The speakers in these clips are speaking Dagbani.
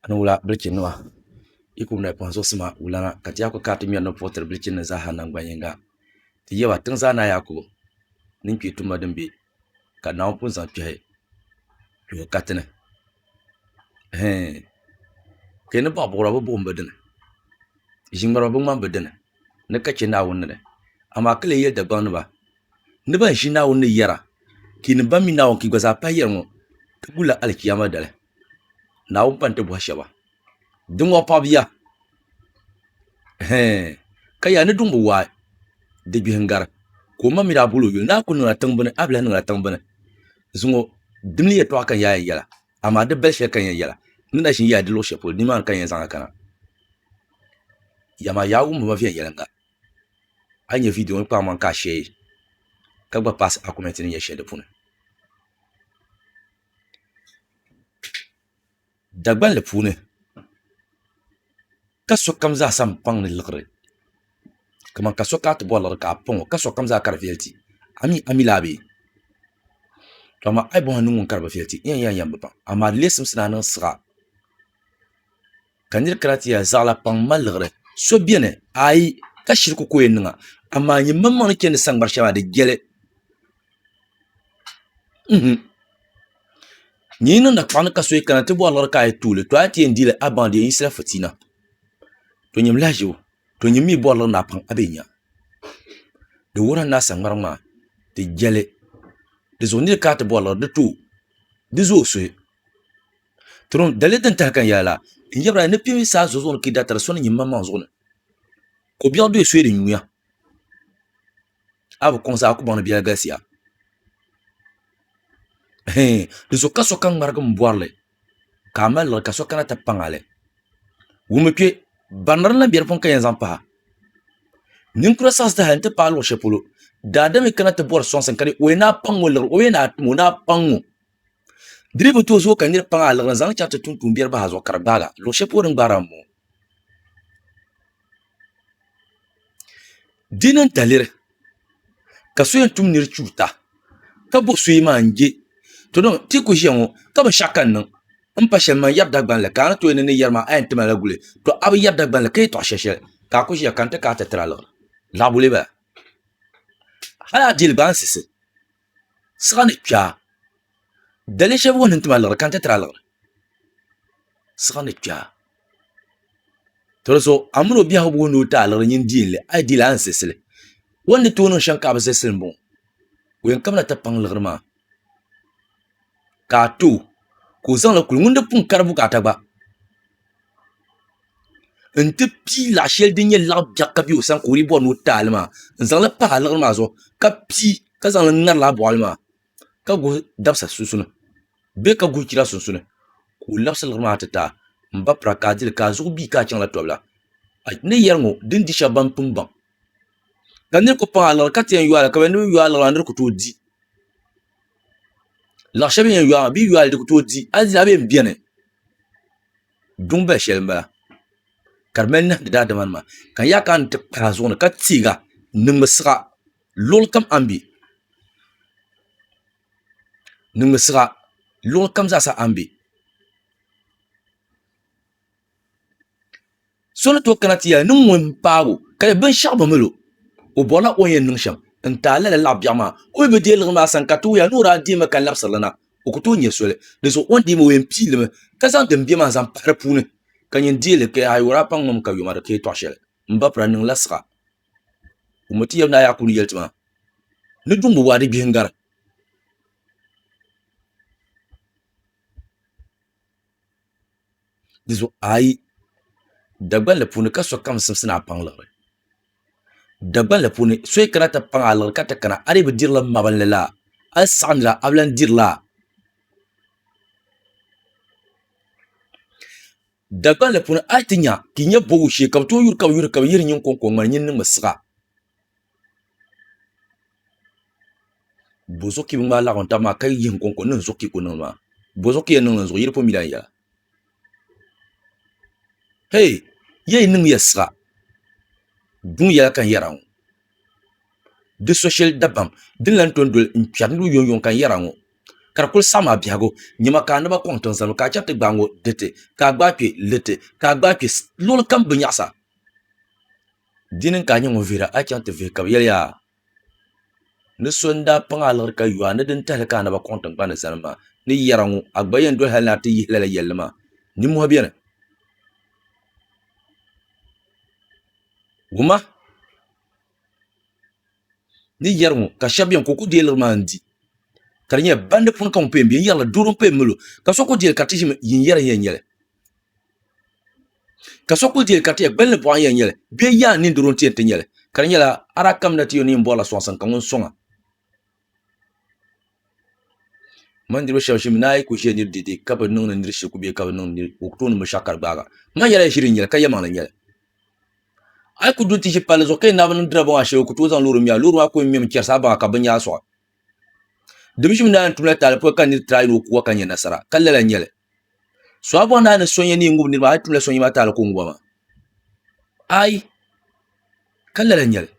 Ani wula bilichi nima yi kuli nahi kpaŋ zuɣusi maa wulana ka ti yaa kuli kana ti ŋmeri ni puɣi tiri bilichi nima zaa ha nangban yinga ti yaba tiŋ zaa ni a yaa kuli niŋ kpee tuma din be ka Naawuni pun zaŋ kpehi kpehi katini hee ka yi ni baɣi buɣira bi buɣim bi dini ʒi ŋmariba bi ŋmani bi dini ni ka che Naawuni ni amaa ka leei yeli Dagbaŋ nima. ni ban ʒi Naawuni ni yɛra, ti ni ban mi Naawuni ka yi gba zaa pahi yɛri ŋɔ, ti gulila Alichiyama dali. Naawuni pa ni ti bɔhi shɛba, Diŋɔ pɔb ya? Hɛɛn! Ka yaa ni duŋ bi waai, di gbihi n-gari. Ka omaŋ mi daa bol o yuli ni a kul niŋla tiŋbini, a bi lahi niŋla tiŋbini. Zuŋɔ di ni yɛtɔɣa ka n yaa yɛn yɛla, amaa di bali shɛli ka n yɛn yɛla, n ni daa ʒin yaai di luɣ shɛli polo, nimaani ka n yɛn zaŋ a kana. Yaa maa yaa wumbima viɛnyɛliŋga, a yi nyɛ viidiyo ŋɔ kpaam maŋ ka a sheei ka gba paasi akumɛnti ni nyɛ shɛli di puuni Dagbanli puuni ka sokam zaa sa n paŋ ni liɣiri kamani ka so kana ti bori liɣiri ka a paŋ o ka sokam zaa ka di viɛli ti amii a mi laa bee to amaa a yi bɔŋ a ni ŋuni ka di bi viɛli ti n yɛn yɛn bi paŋ amaa di lee simsi ni a niŋ siɣa ka nir kana ti ya zaɣila paŋ m-mali liɣiri so beni? Aai! Ka shiriku ka o yɛn niŋ a, amaa nyimmaŋmaŋ ni chɛndi saŋgbani shɛli maa, di jɛli. Uhum! Nyin yi niŋda kpaŋ ni ka so yi kana ti bɔri liɣiri ka a yi tuui li, tɔ a ni ti yɛn di li, a baŋ di yɛn yiɣisila fitiina. Tɔ nyini lahiʒibu, tɔ nyin mi yi bɔri liɣiri ni a paŋ, a bi yɛn nya. Di wuhiri a ni a saŋgbariŋ maa, di jɛli. Di zuɣu nir kana ti bɔri liɣiri, di tuui, di zooi suhi. Trom dali din tahi kan yaa la, n yɛbira ni kpimi saa zuɣu zuɣu ni ki datari so ni nyin maŋmaŋ zuɣu ni. Ko biɛɣu doya soya di nyuya. A bi kɔŋ zaa ku baŋ ni biɛla galisiya. Hee, di zuɣu ka sokam ŋmarigi m bɔri li, ka a mali liɣiri ka so kana ti paŋ a li. Wummi kpe, barinda din lahi be di puuni ka yɛn zaŋ pahi a. Ninkura saɣisi ti hali nti paai luɣ shɛli polo, daadam yi kana ti bɔri sɔŋsim ka di o yɛn ni a paŋ o liɣiri, o yɛn ni a tim o ni a paŋ o. Di dii bi tooi zooi ka niriba pam a liɣiri n-zaŋ li chaŋ ti tuun tuumbiɛri bahi a zuɣu ka di gbaag a. Luɣ shɛli polo din gbaag a m-bɔŋɔ. Di ni daliri ka so yɛn tum nir chuuta ka bo so yimaŋ n-je tɔ dama ti ku ʒiya ŋɔ ka binshɛɣu ka n niŋ m-pa shɛli maa n-yɛri Dagbani la ka a ni tooi yɛli ni n ni yɛri maa a yɛn tim a la guli tɔ a bi yɛri Dagbani la ka yɛtɔɣ shɛli shɛli ka a ku ʒiya ka n ti kaai ti tiri a liɣiri. Laɣibu lee bala. Hal a di li gba a ni siɣisi siɣa ni kpɛ daliya shɛli wuhi ni ti mali liɣiri ka n ti tiri a liɣiri siɣa ni kpɛ toli zuɣu a mini o biɛhagu boo ni o ti a liɣiri nyin dii n lɛ a yi dii laa a ni zilsili o ni tooi niŋ shɛm ka a bi zilsili n boŋo o yɛn kabila ti paŋ liɣiri maa ka a too ka o zaŋli kuli ŋun di pun kari bukaata gba n ti pii laɣa shɛli din nyɛ laɣa biɛɣu ka bɛ o sani ka o dii bori ni o ti taali maa n zaŋli pa liɣiri maa zuɣu ka pii ka zaŋli ŋari laa boɣali maa ka gbubi dabisa sunsuuni bee ka gbubi chɛra sunsuuni ka o labisi liɣiri maa ti taai n ba pira ka a dili ka a zuɣu bia ka a chaŋla tobili a ni yɛri ŋɔ din di shab ban pun baŋ ka niraba ku paŋ a liɣiri ka ti yɛn yoora ka bi yɛn ni bi yooi a liɣiri maa a ni di ku tooi di Laɣa shɛli bini yɛn yɔɔ maa bee yɔɔli di ku tooi di a ni nya bɛn bɛni duŋ bali shɛli n bala ka di mali nahandi daadama nima ka n yah kana n ti kpahi a zuɣu ni ka tiɛg a n niŋmi siɣa luɣuli kam a ni bɛ niŋmi siɣa luɣuli kam zaa sa a ni bɛ so ni tooi kana ti yɛli ni ŋun paagi o ka yɛ binshaɣu bi milo o borila o ni yɛn niŋ shɛm n taai lala laɣa biɛɣu maa o mi bi deei liɣiri maa sani ka ti wuhiya ni o daa deemi ka labisirili na o ku tooi nyɛ soli dinzuɣu o ni deemi o yɛn pii limi ka zaŋ din bɛ maa zaŋ pahi di puuni ka nyin deei li ka yaha yuri a paŋŋmami ka yoma di ka yɛtɔɣa shɛli n ba pira niŋla siɣa o mi ti yɛli ni a yaa ku ni yɛli ti maa ni duŋ bi waa di gbihi n gari Di zuɣu ayi Dagbanli puuni ka sokam simsi ni a paŋ liɣiri. Dagbanli puuni so yi kana ti paŋ a liɣiri ka ti kana a dii bi dirila mabinli la a yi saɣam nira a bi lahi dirila. Dagbanli puuni a yi ti nya ka i nyɛ bɔgu shee ka bi tooi yuri ka bi yuri ka bi yihiri nyin kɔŋko ŋmani nyin niŋmi siɣa. bozokɛ n gbaai laɣim taba maa ka yihi n koŋko n niŋ zokɛ kuli niŋdi maa bozokɛ yɛn niŋdi n zuɣu yili po mila n ya hɛi ya yi niŋmiya siɣa buŋ yɛla ka n yɛra ŋɔ di so shɛli dabam din lahi ton doli n kpɛri niriba yuŋ yuŋ ka n yɛra ŋɔ ka di kuli saɣi maa biɛhigu nyɛma ka a naba kɔŋ tiŋ zali ŋɔ ka a chɛri ti gbaai ŋɔ diriti ka a gbaai kpɛ liriti ka a gbaai kpɛ luɣili kam bi nyaɣisa Di ni ka a nyɛ ŋun vihiri a chaŋ ti vihi ka bɛ yɛli a, Ni so n-daa paŋ a liɣiri ka yo a ni di n-tahili ka a naba kɔŋ tiŋgbani ni zani maa, ni yɛra ŋɔ, a gba yɛn doli hal ni a ti yihi lala yɛlli maa? Nimmɔhi beni. Woma ni yɛri ŋɔ, ka shɛba beni ka o ku deei liɣiri maa n-di, ka di nyɛla bandi puuni ka ŋun paya m-be n-yɛrila doo din paya m-mali o, ka so ku deei li ka ti ʒimi yi n-yɛra n-yɛn nyɛ li. ka so kuli dɛli ka ti yɛ gbunni boɣa n yɛn nyɛli bee yaa n niŋ doro n ti yɛn ti nyɛli ka di nyɛla a daa kamina ti yuli ni yi bori la soŋsim ka ŋun soŋa n ma ni niraba shab ʒimi ni a yi ku ʒɛ niri dɛdɛ ka bi niŋdi niri shirku bee ka bi niŋdi niri o tooni binshaɣu ka di gbaagi a n ma yɛla ʒiɛri n nyɛli ka yɛ maŋli n nyɛli a yi ku du n ti ʒi palli zuɣu ka yɛn naai bi niŋ diriba maa shɛli o ku tooi zaŋ loori ŋmɛ a loori maa ku yɛn ŋmɛmi chɛrisi a baŋa ka binyahari soɣi Division naa n tumla taali puuni ka niriba try ni o kuwa ka nyɛ nasara ka lala n nyɛli so a bɔŋ daa ni so nyɛ nin ŋubiri niriba a yi tumla so nyɛ maa taali ka o ŋuba maa ayi ka lala n nyɛli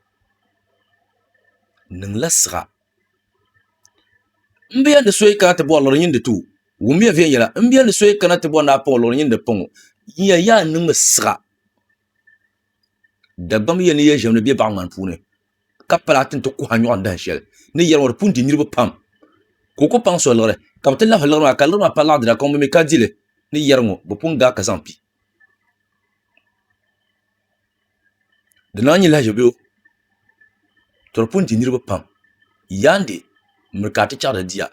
n niŋla siɣa n bɛ yɛli ni so yi kana ti bɔri lɔɣiri nyini di ti o wumiya viɛnyɛla n bɛ yɛli ni so yi kana ti bɔri ni a pɔŋ o lɔɣiri nyini di pɔŋ o n yɛli yaa n niŋ mi siɣa. Dagbamb ya ni ya ʒiɛmdi bɛ baɣiŋmani puuni, ka pala ti ni ti kuhi a nyɔɣu dahin shɛli ni yɛliŋɔ di pun di niriba pam, ka o ku paŋ so liɣiri, ka bɛ ti lahi liɣiri maa, ka liɣiri maa pala laɣ dira, ka ŋun mi ka di li ni yɛliŋɔ bɛ pun ga ka zaŋ pi. Di naan nyi lahiʒibiyo, tɔ di pun di niriba pam. Yaandi, miri ka a ti chaɣ di diya.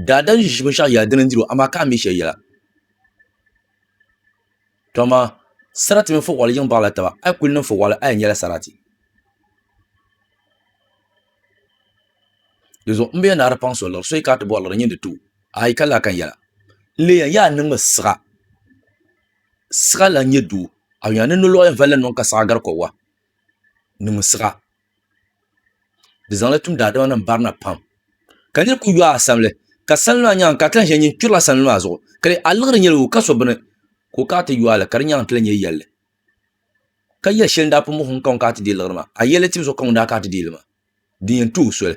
Daadam ʒiʒi binshɛɣu yɛla dini n-diri o, amaa ka a mi shɛli yɛla. Dama sarati mini fooli yiŋ baɣila taba, a yi kul niŋ fooli a yɛn nyɛla sarati. Di zuɣu m be ya ni a di paŋ so liɣiri, so yi ka a ti bɔri liɣiri nyin di ti o, a yi ka lahi kan yɛla. N leei ya n yaa niŋmi siɣa, siɣa lan nyɛ doo, a yuya ni nolɔɣu yɛn valila niŋ ka siɣa gari kɔbiga, niŋmi siɣa Di zaŋla tum daadama nim barina pam ka niriba kuli yooi asamli ka salima maa nyaanga ka a ti lahi ʒiya nyin kpirila salima maa zuɣu ka di a liɣiri nyɛla o ka so bini ka o kana ti yooi li ka di nyaanga ti lahi nyɛ yɛlli ka yɛ shɛli n daa pun muɣisi ŋun kana ti deei liɣiri maa a yɛlli tibu zuɣu ka ŋun daa kana ti deei li maa din yɛn tuhi o soli.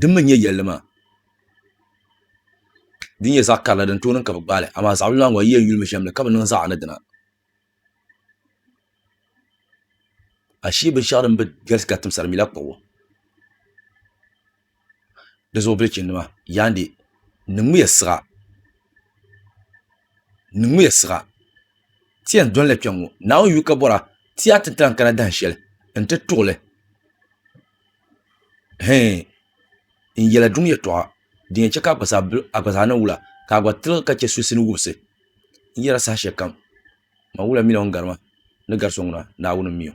Di mi n-nyɛ yɛlli maa din nyɛ zaɣ karili din tooi niŋ ka bɛ gbaai li, amaa zaɣ bila maa gba yi yɛn yuli mi shɛm ni ka bi niŋ zaɣ ni dina. Ashee binshɛɣu din bi galisi ka timsiri mi la kpuɣi o. Di zuɣu bilichinnima yandi niŋmiya siɣa, niŋmiya siɣa ti yɛn doli la kpɛŋŋo Naawuni yuli ka bɔra ti yaa ti ni ti lahi kana dahinshɛli n-ti tuɣi li. hee n yɛla duŋ yɛltɔɣa din yɛn chɛ ka a gba zaa ni wula ka a gba tiligi ka chɛ suhusini wumsi n yɛra saha shɛli kam mawula mini o ni gari ma ni gari so ŋuna Naawuni n-mi o.